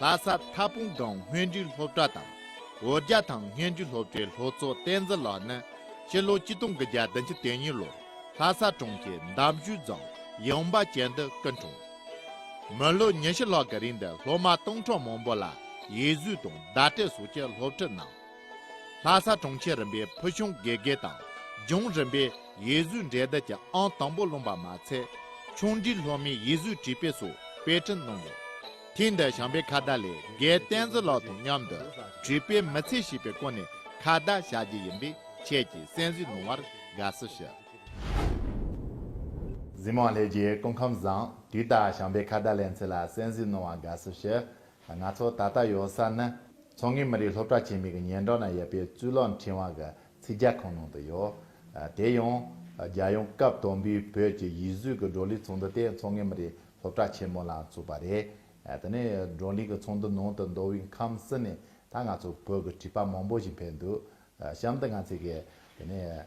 ལྷ་ས་མཐའ་དཔུང་རྫོང་སྨྱོན་རྒྱུད་སློབ་གྲྭ་དང་བོད་རྒྱ་ཐང་སྨྱོན་རྒྱུད་སློབ་གྲྭའི་ལྷོ་གཙོ་བསྟན་འཛིན་ལགས་ནི་ཕྱི་ལོ་སྤྱི་སྟོང་གི་བརྒྱ་དང་ཆིག་སྟོང་གཉིས་ལོར་ལྷ་ས་གྲོང་ཁྱེར་འདབ་ཞུས་རྫོང་ཡངས་པ་ཅན་དུ་སྐུ་འཁྲུངས། མི་ལོ་ཉི་ཤུ་ལྷག་གི་རིང་དུ་སློབ་མ་སྟོང་ཕྲག་མང་པོ་ལ་ཡིད་གཟུས་དང་བརྡ་སྤྲད་སོགས་ཀྱི་སློབ་ཁྲིད་གནང། ལྷ་ས་གྲོང་ཁྱེར་རིམ་པའི་ཕུལ་བྱུང་དགེ་རྒན་དང་ལྗོངས་རིམ་པའི་ཡིད་བཟོས་འབྲེལ་ཟླ་ཀྱི་ཨང་དང་པོ་ལོན་པ་མ་ཚད། ཆུང་འབྲིང་སློབ་མའི་ཡིད་བཟོས་བྲིས་དཔེ་སོགས་དཔེ་སྐྲུན་གནང་ཡོད། ཐེངས་འདིར་བྱམས་པའི་ཁ་བརྡ་ལས་རྒན་བསྟན་འཛིན་ལགས་དང་མཉམ་དུ་བྲིས་དཔེ་མི་ཚད་ཞིག་པའི་སྐོར་ནས་ཁ་བརྡ་བྱ་རྒྱུ་ཡིན་པས་ཁྱེད་ཀྱིས་གསན་གཟིགས་གནང་བར་དགའ་བསུ་ཞུ། འཛིན་མ་ལྷས་རྒྱལ་སྐུ་ཁམས་བཟང། དུས་ལྟར་བྱམས་པའི་ཁ་བརྡ་ལས་འཚལ་ལ་གསན་གཟིགས་གནང་བར་དགའ་བསུ་ཞུ། ང་ཚོ་ད་ལྟ་ཡོད་ས་ནི་མཚོ་སྔོན་མི་རིགས་སློབ་གྲྭ་ཆེན་མོའི་གི་ཉེ་འགྲམ་ན་ཡོད་པའི་གཙུག་ལག་འཕྲིན་དབང་གི་ཚིག་རྒྱག་ཁང་ནང་དུ་ཡོད། དེ་ཡང། རྒྱལ་ཡོངས་སྐབས་དང་པོའི་བོད་ཀྱི་ཡིག་གཟུགས་ཀྱི་བགྲོ་གླེང་ཚོགས་འདུ་དེ་མཚོ་སྔོན་མི་རིགས་སློབ་གྲྭ་ཆེན་མོ་ལ་ཚུགས་པ་རེད། དེ་ནས་བགྲོ་གླེང་གི་ཚོགས་འདུ་ནང་དུ་མདོ་དབུས་ཁམས་གསུམ་ནས་ད་ང་ཚོ་བོད་ཀྱི་བྲིས་པ་མང་པོ་ཞིག་ཕེབས་འདུག་གཤམ་དུ་ང་ཚོས་གི་དེ་ནས་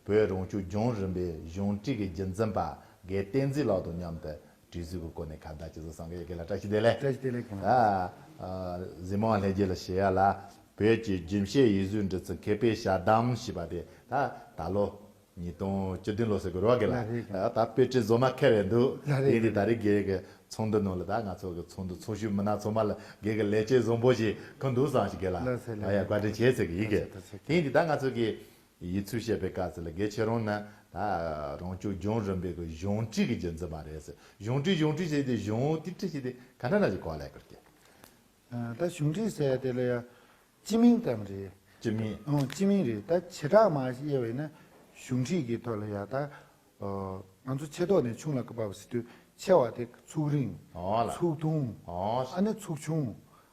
བོད་རང་སྐྱོང་ལྗོངས་རིམ་པའི་གཞུང་འབྲེལ་གྱི་རྒྱུན་འཛིན་པ་དགེ་བསྟན་འཛིན་ལགས་དང་མཉམ་དུ་གྲོས་ཚུལ་གྱི་སྐོར་ནས་ཁ་བརྡ་བྱས་ཚུལ་གསུངས་སྐད་ཡི་གེ་ལ་བཀྲ་ཤིས་བདེ་ལེགས། བཀྲ་ཤིས་བདེ་ལེགས་ཨ། གཟིགས་མོ་ལྷན་རྒྱས་ལ་ཞེས་ཡ་ལ་བོད་ཀྱི་རྒྱུན་བཤད་ཡིག་གཟུགས་འབྲི་ཚུལ་མཁས་པའི་ཞལ་གདམས་ཞེས་པ་དེ་ད་ད་ལོ་ཉིས་སྟོང་བཅུ་བདུན་ལོ་ཟེར་དགོས་རོགས་གི་ལ་ད་དཔེ་ཁྲིད་བཟོ་མ་མཁས་རེད་འདུག་དེ་ཡིན་དུས་ད་རེས་སྒེར་གྱི་ཚོགས་འདུ་ནང་ལ་ད་ང་ཚོ་གི་ཚོགས་འདུ་ཚོགས་ཞུགས་མི་སྣ་ཚོ་མ་ལ་སྒེར་གྱི་ལས་བྱེད་བཟང་པོ་ཞིག་གང་འདུག་བཟང་ཞིག་གི་ལ་ད་ཡར་བཀའ་དྲིན་ཆེ་ཟེར་གྱི་ཡིན་གི་དེ་ཡིན་དུས་ད་ང་ཚོ་གི་ཡིད་ཚུལ་བཤད་པའི་སྐབས་སུ་ལ་གེ་ཆེ་རུང་ན། ད་རང་ཅོ་རྒྱུང་རིམ་པའི་གཞུང་བྲིས་ཀྱི་རྒྱུ་མཚན་མ་རེད། གཞུང་བྲིས་གཞུང་བྲིས་བྱས་ཏེ་གཞུང་ཏིག་བྲིས་བྱས་ཏེ་ག་འདྲ་ན་ཅིག་གོ་ལེགས་པར་སྐྱེ། ད་གཞུང་བྲིས་ཟེར་དེ་ལ་ཡང་སྤྱི་མིང་ཙམ་རེད། སྤྱི་མིང། ཨང་སྤྱི་མིང་རེད། ད་བྱེ་བྲག་མ་དབྱེ་བས་ན་གཞུང་བྲིས་ཀྱི་ཐོག་ལ་ཡང་ད། ང་ཚོ་ཆེ་ཐོག་ནས་ཆུང་ལ་ཀ་བབས་སི་དུས་ཆེ་བ་དེ་ཚུགས་རིང། ཚུགས་ཐུང། ཨ་ནི་ཚུགས་ཆུང།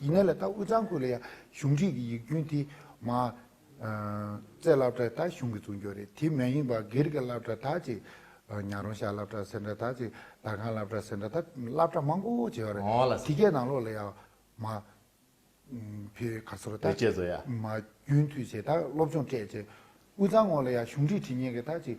ཡིན་ནའི་ལ་དྭགས་དབུས་གཙང་ཁུལ་ལ་ཡང་གཞུང་ཁྲིད་ཀྱི་ཡིག་རྒྱུན་དེ་མ། རྩེ་བླ་བྲ་དག་གཞུང་གིས་བཙུགས་འཇོག་རེད་དེ་མ་ཡིན་པར་སྒེར་གྱི་བླ་བྲ་དག་ཅིག། ཉག་རོང་ཤར་བླ་བྲ་ཟེར་འདྲ་དག་ཅིག་དར་ཁང་བླ་བྲ་ཟེར་འདྲ་དག་བླ་བྲ་མང་པོ་བྱས་པ་རེད་དེ་གའི་ནང་ལོགས་ལ་ཡང་མ། ཕེ་ག་སོ་ར་དག་ཅིག་མ། རྒྱུན་མཐུད་བྱས་དག་སློབ་སྦྱོང་སྤྲད་བྱས། དབུས་གཙང་ངོགས་ལ་ཡང་གཞུང་ཁྲིད་ཁྲིད་ཉན་མཁན་དག་ཅིག།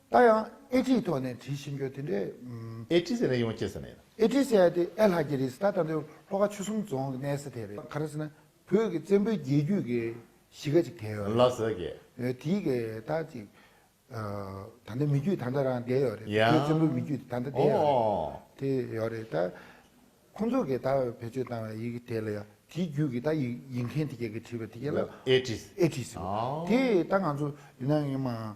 ད་ཡང་ཨེ་ཀྲིའི་ཐོག་ནས་བྲིས་ཤེས་རྒྱུ་དེ་འདྲའི། ཨེ་ཀྲི་ཟེར་ན་ཡོང་ཅེས་ཟེར་ན་ཡིན། ཨེ་ཀྲི་ཟེར་ཡ་དེ་ཨེ་ལྷ་རྒྱལ་རིས་ད་ད་དུང་ལྷོ་ཁ་ཆུ་གསུམ་རྫོང་གི་གནས་ས་དེ་རེད། ག་རེ་ཟེར་ན་བོད་ཀྱི་བཙན་པོའི་རྒྱལ་རྒྱུད་ཀྱི་གཞིས་ཀ་ཅིག་དེ་ཡོད་རེད། ལ་ཟེར་གི། དེའི་གི་ད་ཅིག་ད་ལྟ་མི་རྒྱུད་ད་ལྟ་རང་བསྡད་ཡོད་རེད། བོད་བཙན་པོའི་མི་རྒྱུད་ད་ལྟ་བསྡད་ཡོད་རེད། དེ་ཡོད་རེད་ད། ཁོང་ཚོ་གི་ད་བེད་སྤྱོད་བཏང་བའི་ཡི་གེ་དེ་ལ་ཡང་དེའི་རྒྱུད་ཀྱི་ད་ཡི་ཡི་མཁན་དེ་ག་གི་བྲིས་པ་དེ་ག་ལ། ཨེ་ཀྲི། ཨེ་ཀྲི་ཟེར། དེ་ད་ང་ཚོ་ཡིན་ན་ཡང་མང།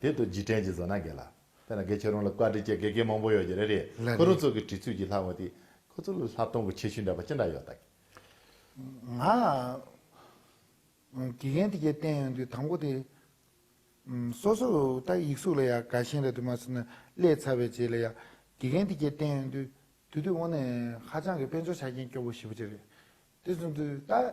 དེ་དུ་རྗེས་དྲན་གྱི་བཟོ་སྣ་འགས་ལ། དེ་ན་དགེ་ཆོས་རང་ལ་བཀའ་དྲིན་ཅན་དགེ་རྒན་མང་པོ་ཡོད་ཀྱི་རེད་རེད། ལ་ཁོ་རང་རེད། ཚོ་གི་དྲི་ཚུལ་གྱིས་ལྷག་མ་དེ། ཁོ་ཚོ་ལ་ལྷག་གཏོང་གི་ཆེ་ཤུལ་འདྲ་པ་ཅི་འདྲ་ཡོད་ད་གི། ང། དགེ་རྒན་དེ་གས་བསྟན་ཡོང་དུས་དང་པོ་དེ། སོ་སོ་ད་ཡིག་གཟུགས་ལ་ཡ་དགའ་ཞིང་རེད་དུ་མ་ཟེར་ན་ཀླད་ཚ་བའི་རྗེས་ལ་ཡ། དགེ་རྒན་དེ་གས་བསྟན་ཡོང་དུས་དུས་དུས་འོག་ནས་ཧ་ཅང་གི་དཔེ་འཇོག་བྱ་མཁན་སྐྱོ་བོ་ཞིག་པོ་ཅི་རེད། དེ་བཟུང་དུས་ད།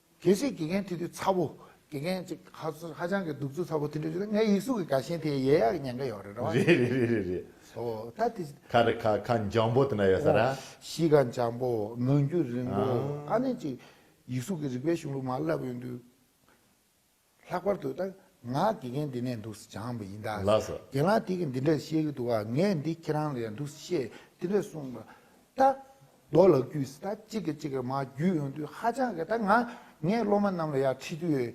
དེ་བཞིན་དགེ་རྒན་ཐི་དུས་ཚ་བོ། དགེ་རྒན་གཅིག་ཧ་ཅང་གི་གདུག་རྩུབ་ཚ་བོ་དེ་འདྲ་ཞིག་ལ་ངའི་ཡིག་གཟུགས་ཀྱི་དགའ་ཞེན་དེ་ཡལ་ཡག་གི་ཉེན་ཁ་ཡོད་རེད་རེད་བ། རེད་རེད་རེད་རེད་རེད། ཨོ། ད་དེ། ཁ་རེད་ཁ་ཁ་འཇམ་པོ་དེ་འདྲ་ཡོད་ས་རེད་ཨ། གཞིས་ཀ་འཇམ་པོ་མོན་རྒྱུད་རིང་པོ་ཨ་ནི་ཅིག། ཡིག་གཟུགས་ཀྱི་རིག་པའི་གཞུང་ལུགས་མ་བསླབས་ཡོད་དུས། ལྷག་པར་དུ་ད་ང་དགེ་རྒན་འདི་ནས་འདུག་སེ་སྦྱངས་པ་ཡིན་ད། ལགས་སོ། རྒན་ལགས་དེ་གིས་འདི་འདྲ་བཤད་གི་འདུག་ག་ངས་འདི་ཁྱེད་རང་ལ་ཡང་འདུག་སེ་ཞེས་འདི་འདྲ་གསུངས་པ། ད། རྡོ་ལག་བརྒྱུས་སེ་ད་གཅིག་གིས་གཅིག་གི་མ་བརྒྱུས་ཡོང་དུས་ཧ་ཅང་གི་ད་ང་ངས་སློབ་མ་རྣམས་ལ་ཡར་ཁྲིད་དུས།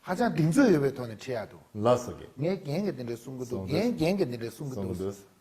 ཧ་ཅང་གདེང་ཚོད་ཡོད་པའི་ཐོག་ནས་ཁྲིད་ཡག་འདུག། ལགས་སོ། ངས་རྒན་གིས་འདི་འདྲ་གསུངས་གི་འདུག་རྒན་རྒན་གིས་འདི་འདྲ་གསུངས་གི་འདུག།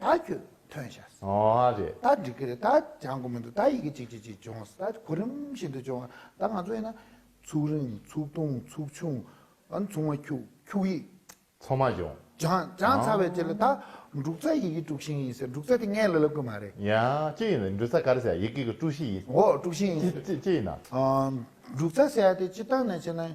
ད་ཁྱོད་ཐོན་ཤག་ཟེར། ཨོ་ཨ་རེད། ད་འགྲིག་གི་རེད། ད་བྱང་གོ་མི་འདུག་ད་ཡི་གེ་གཅིག་གཅིག་གཅིག་སྦྱོང་ཟེར། ད་གོ་རིམ་བཞིན་དུ་སྦྱོང། ད་ང་ཚོ་ཡིན་ན། ཚུགས་རིང་ཚུགས་ཐུང་ཚུགས་ཆུང། ཨ་ཚུགས་མ་ཁྱུག་ཁྱུག་ཡིག། ཚོགས་མ་སྦྱོང། སྦྱང་སྦྱང་ཚར་བའི་རྗེས་ལ་ད། འབྲུག་རྩ་ཡི་གེ་དཀྲུག་ཤིང་ཡིན་ཟེར་འབྲུག་རྩ་དེ་ངའི་ལ་ལ་དགོས་མ་རེད། ཡ། ཅི་ཡིན་ན་འབྲུག་རྩ་ག་རེ་ཟེར་ཡི་གེ་གི་དཀྲུག་ཤིང་ཡིན། འོ་དཀྲུག་ཤིང་ཡིན་ཟེར། ཅི་ཅི་ཅི་ཡིན་ན། འབྲུག་རྩ་ཟེར་ཡ་དེ་སྤྱིར་བཏང་ནས་བྱས་ན།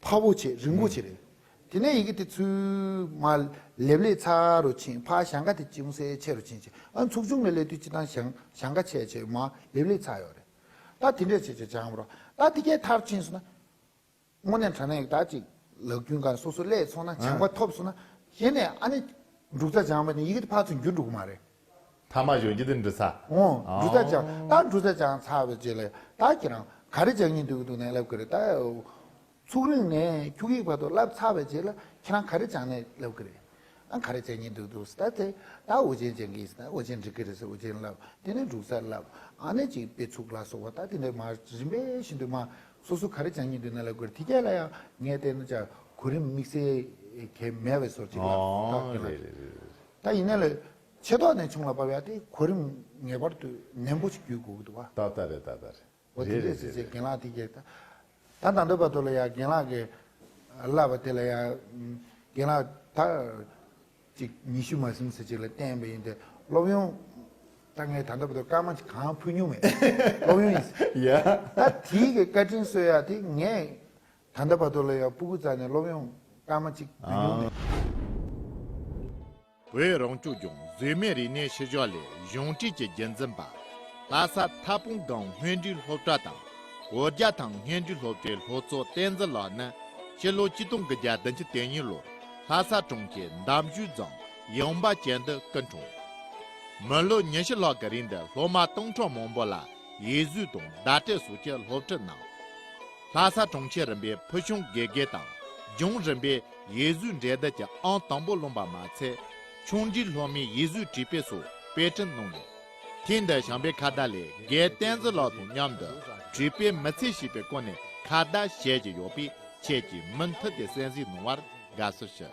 འཕགས་བོ་ཆེ་རིན་པོ་ཆེ་རེད། དེ་ནས་ཡི་གེ་དེ་ཚུལ། མ། ལེབ་ལེ་ཚ་རུ་ཕྱིན་ཕ་ཞང་ཀ་དེ་ཅུང་ཟད་ཆེ་རུ་ཕྱིན་ཕྱིན་ཨ་ཚུགས་ཆུང་ནས་ལས་དུས་ཅི་དང་ཞང་ཞང་ཀ་ཆེ་ཆེ་མ་ལེབ་ལེ་ཚ་ཡོད་རེད། ད་དེ་འདྲས་བྱས་བྱས་བྱའམ་རོགས་ད་དེ་གའི་མཐར་ཕྱིན་སོང་ན། དངོས་གནས་དྲ་གནས་དག་ཅིག་ལག་རྒྱུན་གང་སོ་སོ་ལས་ཚོགས་ན་བྱང་པ་ཐོབ་སོང་ན། གཞན་ནས་ཨ་ནི། འབྲུག་རྩ་བྱང་པ་ནི་ཡི་གེ་དེ་ཕ་ཚུན་རྒྱུད་འགྲོ་གི་མ་རེད། ཐ་མ་གཞོན་སྐྱེས་དེ་འབྲི་ཚར། འོང། འབྲུ་ཚ་ཅང་ད་འབྲུ་ཚ་ཅང་ཚ་བའི་རྗེས་ལས་ད་ཁྱེད་རང་ག་རེ་བྱ་ཉིན་དུ་དུ་ནས་ལབ་གི་རེད་ད། ཚུགས་རིང་ནས་ཁྱུག་ཡིག་བར་དུ་ལབ་ཚར་བའི་རྗེས་ལ་ཁྱེད་རང་ག་རེ་བྱང་ནས་ལབ་གི་རེད། ཨང་ག་རེ་བྱ་ཉིན་དུ་དུ་སི་ད་དེ་ད་འུར་ཆེན་བྱེད་གི་སི་ད་འུར་ཆེན་འབྲི་གི་རེད་སི་འུར་ཆེན་ལབ་དེ་ནས་འབྲུག་ཚ་ལབ་ཨང་ནས་ཅིག་དཔེ་ཚུགས་ལ་སོགས་པ་ད་དེ་འདྲ་མ་རིམ་པས་ཤིན་ཏུ་མ་སོ་སོ་ག་རེ་བྱང་ཉིན་དུ་ནས་ལབ་གི་རེད་དེ་རྒྱ་ལ་ཡང་ངས་བལྟས་ན་ཅག་གོ་རིམ་དམིགས་བསལ་གས་མེད་བས་སོར་ཅིག་ལབ་ད་ཁྱེད་རང། ད་ཡིན་ན་ལས་ཆེ་ཐོག་ནས་བྱུང་ལ་བབས་ཡ་དེ་གོ་རིམ་ངེས་པར་དུ་ནན་པོ་ཞིག་བརྒྱུད་དགོས་ཀྱི་འདུག་བ། ད་ད་རེད་ད་ད་རེད། འོ་དེ་འདྲས་ཟེར་བྱས་རྒན་ལགས་དེ་རྒྱལ་ད། ད་ད་འདོད་པ་འདོད་ལ་ཡ་རྒན་ལགས་ཀྱི་ལབ་པ་དེ་ལ་ཡ། རྒན་ལགས་ད། ཅིག་ཉི་ཤུ་མ་ཟིན་ཟེར་བྱས་ལ་བསྟན་པ་ཡིན་ཏེ་སློབ་ཡོན། ད་ངས་ད་འདོད་པ་འདོད་སྐར་མ་གཅིག་གང་ཕུལ་མྱོང་མེད། སློབ་ཡོན་ཡིན། ཡ། ད་དེའི་གི་བཀའ་དྲིན་གསོལ་ཡ་དེ་ངས། ད་ལྟ་བར་དུ་ལ་ཡང་སྤུ་གུ་རྩ་ནས་སློབ་ཡོང་སྐར་མ་གཅིག་མི་ཉུང་མེད། བོད་རང་སྐྱོང་ལྗོངས་གཟོད་མེད་རིག་གནས་ཤུལ་བཞག་ལས་གཞུང་འབྲེལ་གྱི་འགན་འཛིན་པ། ལྷ་ས་མཐའ་དཔུང་སྒང་སྔོན་འགྲོའི་སློབ་གྲྭ་དང་བོད་རྒྱ་ཐང་སྔོན་འགྲོའི་སློབ་གྲྭའི་ལྷོ་ཚོགས་བསྟན་འཛིན་ལགས་ནི་ཕྱི་ལོ་བཅུ་སྟོང་གི་བརྒྱད་བདུན་ཅུ་དོན་གཉིས་ལོར་ལྷ་ས་གྲོང་ཁྱེར་འདམ་ཆུས་རྫོང་ཡངས་པ་ཅན་དུ་སྐུ་འཁྲུངས། མི་ལོ་ཉི་ཤུ་ལྷག་གི་རིང་དུ་སློབ་མ་སྟོང་ཕྲག་མང་པོ་ལ་ཡིད་གཟུས་དང་བརྡ་སྤྲད་སོགས་ཀྱི་སློབ་ཁྲིད་གནང། ལྷ་ས་གྲོང་ཁྱེར་རིམ་པའི་ཕུལ་བྱུང་དགེ་རྒན་དང་རྒྱུན་རིམ་པའི་ཡིད་གཟུས་འབྲེལ་ཟླ་གྱི་ཨང་དང་པོ་ལོན་པ་མ་ཚད། ཆུང་འདྲིས་སློབ་མའི་ཡིད་གཟུས་བྲིས་དཔེ་སོགས་དཔེ་སྐྲུན་གནང་ཡོད། ཐེངས་འདིར་ཞང་པའི་ཁ་བརྡ་ལས་དགེ་བསྟན་འཛིན་ལགས་དང་མཉམ་དུ་བྲིས་དཔེ་མི་ཚད་ཞིག་པའི་སྐོར་ནས་ཁ་བརྡ་བྱེད་ཀྱི་ཡོད་པས་ཁྱེད་ཀྱིས་མུ་མཐུད་དེ་གསན་གཟིགས་གནང་བར་དགའ་བསུ་ཞུ།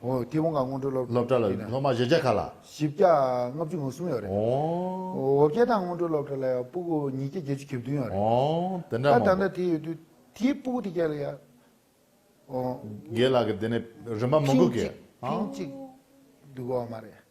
སྐྱེ་བོ་འགའ་སྔོན་འགྲོའི་སློབ་གྲྭ་ལ་ཡོད་ན། སློབ་མ་བཞི་བརྒྱ་ཁ་ལ། བཞི་བརྒྱ་ལྔ་བཅུ་ང་གསུམ་ཡོད་རེད། འོ་བརྒྱད་དང་སྔོན་འགྲོའི་སློབ་གྲྭ་ལ་ཡང་སྤུ་གུ་ཉིས་བརྒྱ་བརྒྱད་ཅུ་གྱ་བདུན་ཡོད་རེད། ད་ད་ལྟ་དེ་ཡོད་དུས་དེའི་སྤུ་གུ་དེ་བརྒྱ་ལ་ཡ། དགེ་ལགས་ཀྱི་དེ་ནས་རིན་པ་མང་པོ་གི། ཐེངས་གཅིག་ཐེངས་གཅིག་འདུག་གོ་མ་རེད།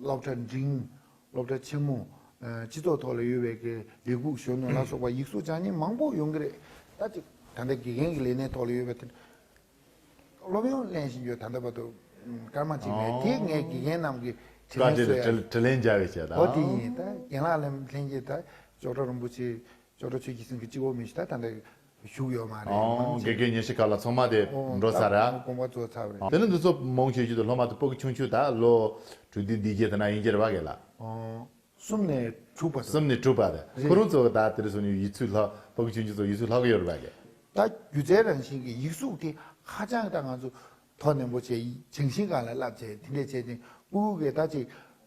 སློབ་གྲྭ་འབྲིང། སློབ་གྲྭ་ཆེན་མོ། སྤྱི་ཚོགས་ཐོག་ལ་ཡོད་པའི་དགེ་སྒུག་གཞོན་ནུ་ལ་སོགས་པ་ཡིག་གཟུགས་བྱང་སྙན་མང་པོ་ཡོང་གི་རེད། ད་ཅིག་ད་ལྟ་དགེ་རྒན་གྱི་ལས་གནས་ཐོག་ལ་ཡོད་པའི་དེ་འདྲ་སློབ་ཡོན་གླེང་བཞིན་ཡོད་ད་ལྟ་བར་དུ་སྐར་མ་གཅིག་རེད་དེ་ངས་དགེ་རྒན་རྣམས་ཀྱི་དྲི་ལན་གསོལ་ཡ་རེད། དྲི་ལན་འཇལ་བའི་ཆེད་དང། ཨོ་དེ་ཡིན་ད་རྒན་ལགས་ལན་ལྷན་རྒྱས་ད་ཅོག་གྲྭ་རིན་པོ་ཆེ། ཅོག་གྲྭ་ཆོས་ཀྱི་སེང་གེ་གཅིག་འོག་མི་བཞི་ད་ད་ལྟ་བཞུགས་ཡོད་མ་རེད་མང་ཆེ། དགེ་རྒན་ཉེ་ཤི་ཁ་ལ་ཚོང་མ་དེ་འགྲོ་ཚར་ཨ། དགོངས་པ་རྫོགས་ཚར་བས། དེ་ནི་འདི་ཚོ་མོང་ཆོས་རྒྱུད་དུ་ལྷོ་མ་དུ་སྤོ་གི་ཆུང་ཆུ་དག་ལོ། དྲུག་འདི་འདི་རྗེས་དེ་ན་དབྱིན་སྐྱེར་བ་གས་ལ། གསུམ་ནས་དྲུག་པ་དང། གསུམ་ནས་དྲུག་པ་དང་ཁོ་རང་ཚོ་དག་དེ་རུ་སོང་ཡོད་ཡིད་ཚུལ་ལྷོ་སྤོ་གི་ཆུང་ཆུ་ཚོ་ཡིད་ཚུལ་ལྷོ་གི་ཡོད་རུ་བ་གས། ད་སྒྱུ་རྩལ་རང་བཞིན་གྱི་ཡིག་གཟུགས་དེ་ཧ་ཅང་ད་ང་ཚོ་དོ་ནན་པོ་བྱས་ཡིན་ཆང་ཤིང་གང་ལ་བསླབ་བྱས་དེ་འདྲས་བྱས་ཏེ་ཀུ་ཀུ་གས་ད་ཅིག་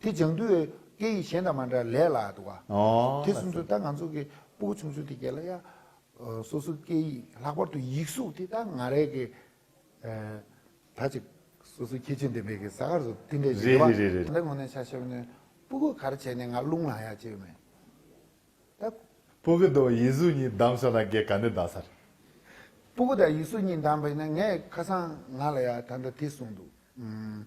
དེ་ལྗང་དུས་བའི་སྐད་ཡིག་གཞན་དང་མ་འདྲ་ལས་ལ་འདུག་ག། དེ་སུན་ཚོད་ད་ང་ཚོ་གི་སྤུ་གུ་ཆུང་ཆུང་དེ་གས་ལ་ཡ། སོ་སོའི་སྐད་ཡིག་ལྷག་པར་དུ་ཡིག་གཟུགས་དེ་ད་ང་རས་གས། ད་ཅི། སོ་སོའི་ཁྱད་ཆོས་འདི་མེད་གས་ས་གར་སོ་དེ་འདྲས་ཞིག་རེད་བ། ད་ངོ་ནས་ཤ་ཤེ་བ་ནས་སྤུ་གུ་གར་བྱས་ནས་ང་རླུང་ལངས་ཡག་བྱས་མེད། ད། སྤུ་གུ་དང་ཡིག་གཟུགས་གཉིས་བདམས་ཤོག་ད་གས་ག་ནས་བདམས་ས་རེད། སྤུ་གུ་དང་ཡིག་གཟུགས་གཉིས་བདམས་པས་ན་ངས་ཁ་སང་ང་ལ་ཡ་ད་ད་དེ་གསུངས་འདུག།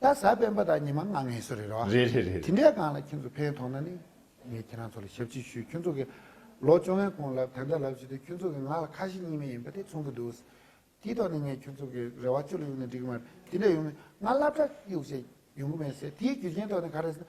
ད་གཟའ་སྤེན་པ་དང་ཉི་མ་ལྔ་ངལ་གསོ་རེད་རེད་བ། རེད་རེད་རེད་དེ་རེད། འདྲས་གང་ལ་ཁྱེད་ཚོ་ཕན་ཐོག་ན་ནི་ངས་ཁྱེད་རང་ཚོ་ལ་ཞབས་ཕྱི་ཞུས་ཁྱོད་ཚོ་གི་ལོ་བཅོ་ལྔའི་གོང་ལ་དེ་འདྲ་ལབ་བྱས་དུས་ཁྱོད་ཚོ་གི་ང་ལ་ཁ་ཞེ་གཉིས་མེད་ཡིན་པ་དེ་མཚུངས་གི་འདུག་ཟེར། དེའི་ཐོག་ནས་ངས་ཁྱོད་ཚོ་གི་རེ་བ་ཅུ་ལ་གཡུག་ནས་འགྲིག་གི་མ་རེད་དེ་འདྲ་ཡོང་ནས་ང་བླ་བྲག་གཡུག་བྱས་ཡོང་གི་མེད་ཟེར་དེའི་རྒྱུ་རྐྱེན་ཐོག་ནས་ག་རེ་ཟེར་ན་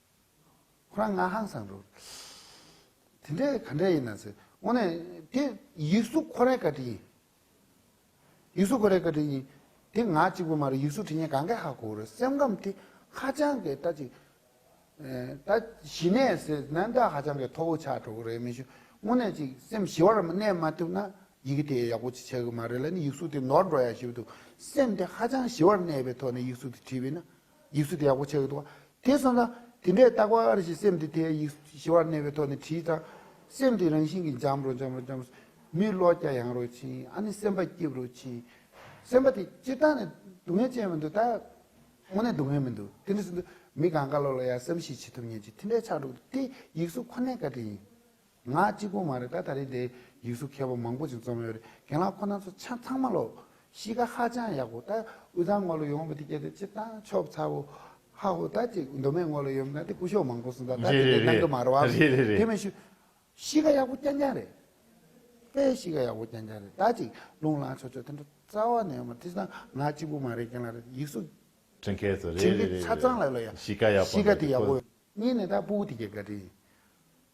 ཁོ་རང་ང་ཧང་སང་རོ། དེ་འདྲས་ག་འདྲས་ཡིན་ན་ཟེར། དངོས་ནས་དེ་ཡིག་གཟུགས་ཁོ་རའི་བཀའ་དྲིན་ཡིན། ཡིག་གཟུགས་ཁོ་རའི་བཀའ་དྲིན་ཡིན། དེ་ང་གཅིག་པུ་མ་རེད་ཡིག་གཟུགས་དྲིན་ཆེན་གངྒཱའི་ཧ་གོ་རེད་སེམས་ཁམས་དེ་ཧ་ཅང་གི་ད་ཅིག། ད་ཞི་ནས་ཟེར་ན་ད་ཧ་ཅང་གི་མཐོ་བོ་ཆགས་འགྲོ་གི་རེད་མི་ཤུགས་དངོས་ནས་ཅིག་སེམས་ཞི་བར་གནས་མ་ཐུབ་ན་ཡི་གེ་དེ་ཡག་པོ་ཅིག་བྱ་གི་མ་རེད་ལ་ནི་ཡིག་གཟུགས་དེ་ནོར་འགྲོ་ཡག་ཞིབ་འདུག་སེམས་དེ་ཧ་ཅང་ཞི་བར་གནས་པའི་ཐོག་ནས་ཡིག་གཟུགས་དེ་བྲིས་པས་ན་ཡིག་གཟུགས་དེ་ཡག་པོ་ཆགས་ཡོད་འདུག་དེ་བསམ་ན། དེ་འདྲའི་རྟག་པ་ཨ་རེ་ཞིག་སེམས་དེ་དེའི་ཡིག་གཟུགས་ཞི་བར་གནས་པའི་ཐོག་ནས་བྲིས་དང། སེམས་དེ་རང་བཞིན་གྱིས་འཇམ་རོ་འཇམ་རོ་འཇམ། མིའི་བློ་རྒྱ་ཡངས་རོ་ཕྱིན་ཨ་ནི་སེམས་པ་སྐྱིད་རོ་ཕྱིན། སེམས་པ་དེ་སྤྱིར་བཏང་ནས་སྡུག་བསྔལ་ཅན་མི་འདུག་ད། དངོས་གནས་སྡུག་བསྔལ་མི་འདུག་དེ་འདྲ་ཟིན་དུས་མི་གང་དགའ་ལོ་ལ་ཡང་བསམ་གཞིགས་བྱེད་ཐུབ་ངེས་ཅི་དེ་འདྲའི་ཆགས་འགྲོ་འདུག་དེ་ཡིག་གཟུགས་ཁོ་ནའི་བཀའ་དྲིན་ཡིན། ང་གཅིག་པུ་མ་རེད་ད་ད་རེས་འདི་ཡིག་གཟུགས་མཁས་པོ་མང་པོ་ཞིག་འཛོམས་ཡོད་རེད་རྒན་ལགས་ཁོ་ན་ཚོ་ཆ་ཚང་མ་ལོ། གཤིས་ཀ་ཧ་ཅང་ཡག་པོ་ད་དབུས་གཙང་སྔོ་ལོ་ཡོང་བ་འདི་གལ་ཏེ་སྤྱིར་བཏང་ཆོབ་ཚ་བོ། ཧ་ཧོ་ད་ཅིག་མདོ་སྨད་སྔོ་ལོ་ཡོད་མིན་ན་དེ་སྐུ་ཞོག་མང་པོ་སོང་ད་ད་དེ་འདྲའི་གནང་གི་མ་རོ་བ། དེ་མི་ཞུ། གཤིས་ཀ་ཡག་པོ་རྐྱང་རྐྱང་རེད། དཔེ་གཤིས་ཀ་ཡག་པོ་རྐྱང་རྐྱང་རེད་ད་ཅིག་ལུང་ལངས་ཆོག་ཆོག་དེ་འདྲ་རྩ་བ་ནས་ཡོད་མ་རེད་དེ་སང་ང་གཅིག་པུ་མ་རེད་རྒན་ལགས་རེད་ཡིག་གཟུགས། དྲིན་མཁས་ཚོ་རེད་རེད་རེད་རེད་ཆ་ཚང་ལ་ལོ་ཡ་གཤིས་ཀ་ཡག་པོ་འདུག་གཤིས་ཀ་དེ་ཡག་པོ། གཉིས་ནས་ད་སྤུ་བོ་དེ་གས་ག་དྲིན་ཡིན།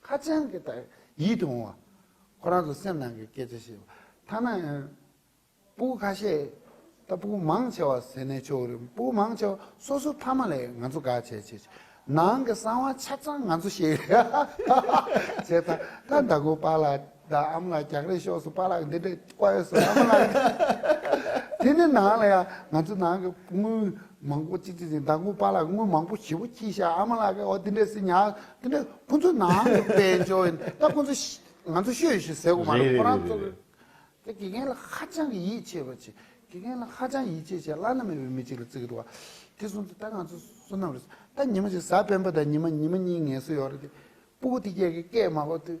ཁ་ཅན་གྱི་དག་ཡིད་དུ་འོང་བ། ཁོ་རང་ཚོ་སེམས་ནང་གི་སྐད་ཆ་བཤད་པ། ཐ་ན། སྤུ་ཁ་ཤས། ད་སྤུ་མང་ཆེ་བ་ཟེར་ནས་ཆོག་གི་རེད། སྤུ་མང་ཆེ་བ་སོ་སོ་ཐ་མ་ལས་ང་ཚོ་དགའ་བྱས་བྱས་བྱས། ནང་གི་གསང་བ་ཆ་ཚང་ང་ཚོ་བཤད་གི་རེད། བྱས་ཙང་ད་ཟླ་དགུ་པཱ་ལགས་ད་ཨམ་ལགས་རྒྱག་རེས་ཤོག་སུ་པཱ་ལགས་འདི་འདྲས་དཔའ་ཡོད་སུ་ཨམ་ལགས། དེ་ནི་ནང་ལ་ཡང་ང་ཚོ་ནང་གི་དངུལ་མང་པོ་ཅིག་ཅིག་ཅིག་མདའ་དངུལ་པགས་ལ་དངུལ་མང་པོ་ཞིབ་པོ་ཁྱི་ཤ་ཨ་མ་ལགས་ཨོ་དེ་འདྲས་སི་ཉག་དེ་འདྲས་ཁོ་ཚོ་ནང་དུ་དཔལ་འབྱོར་ཡིན་ད་ཁོ་ཚོ་ང་ཚོ་ཤོད་ཤིག་ཟེར་གོ་མ་རེད་ཁོ་རང་ཚོ་གི་དགེ་རྒན་ལ་ཧ་ཅང་གི་ཡིད་ཆེས་པ་ཆེ་དགེ་རྒན་ལ་ཧ་ཅང་ཡིད་ཆེས་ཆེ་བླ་ན་མེད་པའི་མི་ཅིག་ལ་བརྩི་གི་འདུག་བ་དེ་གསུམ་དུ་ད་ང་ཚོ་བསོད་ནམས་རེད་ད་ཉི་མ་ཞིག་གཟའ་སྤེན་པ་དང་ཉི་མ་ཉི་མ་གཉིས་ངལ་གསོ་ཡོག་རེད་དེ་སྤུ་གུ་དེ་རྒྱལ་གི་སྐད་མ་གོ་དུས